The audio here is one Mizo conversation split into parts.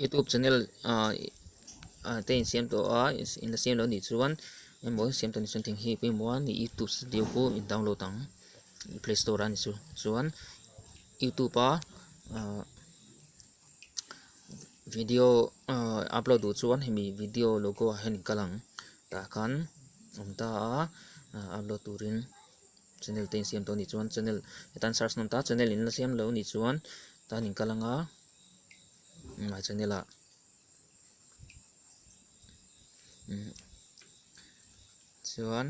Youtube channel ah te insiam tawh a in la siam lo nih chuan emaw siam tawh ni chuan thing hi pawimawh a ni youtube studio chu in download ang play store ah a ni chu chuan youtube a ah video ah upload duh chuan hemi video logo ah hian in kal ang tah khan awm ta a ah upload turin channel te insiam tawh a nih chuan channel he tan search nawm ta channel in la siam lo nih chuan tan in kal ang a. ngai chhan ila chuan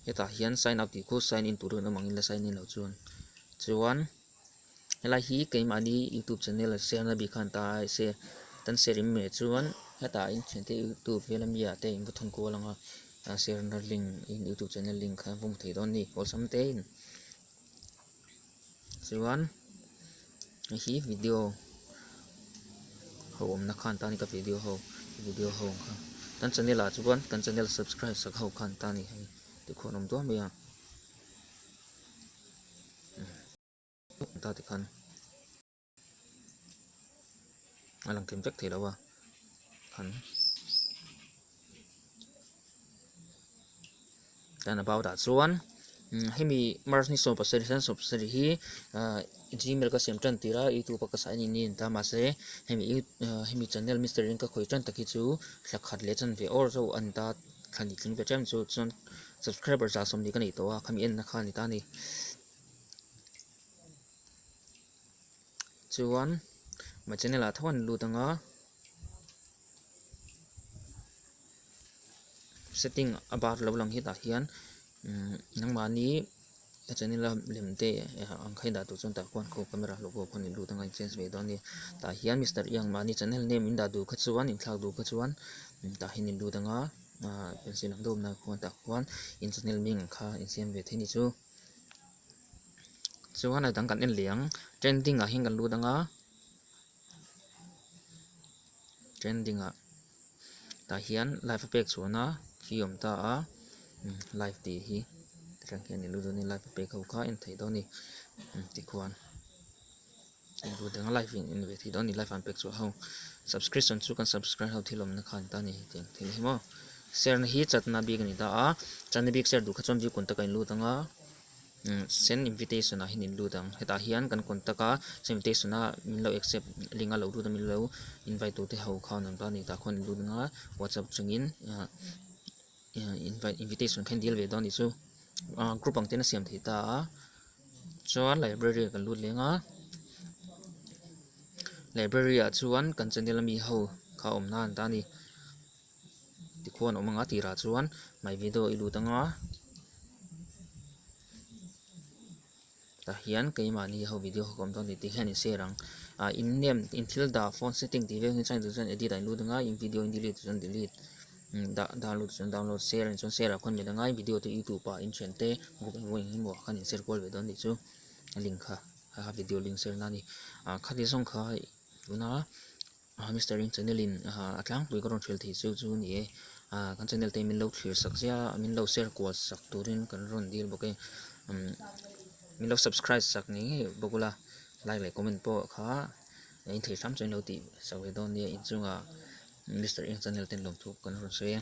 hetah hian sign up tih kut sign in tur dawn avangin la sign in lo chuan chuan helai hi keimahni youtube channel share na bikhan ta a se tan share in meh chuan hetah in thiante youtube vela mi ah te in va thawm kual ang a share na link in youtube channel link kha va hmu thei dawn a ni awlsam te in. chuan heihi video ho awmna khan tan ka video ho video ho ang kha kan channel ah chuan kan channel subscribe sak ho khan ta ni hei tikhu an awm duah mai a ta tikhan. a lang kim vek thei lo a khan tan about ah chuan hemi marni sawm pasarih hian sawm pasarih hi gmail ka siam tan tir a youtube a ka saih a nih ni a ni ta mahse hemi hemi channel mister in ka khawih tan tak hi chu thla khat leh chan ve awr zauh a ni ta thla ni tling ve ṭem chu chuan subscriber zah sawm ni ka neih tawh a khami enna kha a ni ta a ni. chuan ma channel ah tho a ni lut ang a setting a bar lo lang hi tah hian umm nangmah ni a channel a lem te ang kha i dah tur chuan tah khuan kho camera hlauh hlauh pawh a ni lut ang a inchange ve dawn a ni tah hian Mister i ang mah ni channel name in dah tur kha chuan in thlak tur kha chuan tah hi a ni lut ang a ahh pencil an dawp nan khuan tah khuan in channel ming ang kha insiam ve thei a ni chu. chuan heta kan en leh ang trending ah hian kan lut anga trending ah tah hian live a pek chhuah na khi awm ta a live tih hi ti tang hian live a pek ho kha en thei dawn a ni tihkhuan. Englo dang life in en ve thei dawn ani life an pek chu a ho subscription chu kan subscribe ho thil awmna khan ta ni tih ang thei hi maw share na hi chatna bik ani ta a chatna bik share duh kha chuan bikun ta kan lut anga send invitation ah hin in lut ang hetah hian kan contact a send invitation a min lo accept link a lo lut a min lo invite tute ho khan ang ta ni tah khawn in lut anga whatsapp chungin. invite invitation kha in dil ve dawn tih chu ah group ang ten a siam thei ta a chuan library ah kan lut leng a library ah chuan kan channel a mi ho kha awm na a ni ta a ni tikhuan awm anga tirah chuan my video i lut anga. Tah hian keimahni ho video ka awm dawn ni tih hian in share ang a, in name in thil dah phone setting tih vel hi chuan tun chuan edit a in lut anga in video in delete tih chuan delete dah download tih chuan download share a ni chuan share a khawn met anga in video te youtube ah in thian te group emaw eng emaw ah khan in share kual ve dawn tih chu a link kha a video link share na a ni a khati zawng kha tuna. A Mister in channel in a tlangpui ka rawn hril thei cheu chu ni e, a kan channel te min lo thlir sak zia min lo share kual sak turin kan rawn dil bawk e, umm min lo subscribe sak ngei ngei bawk ula like leh comment pawh kha in thei hram chuan in lo tih sak ve dawn nia inchungah Mister in channel ten lawmthuk kan rawn sawi a.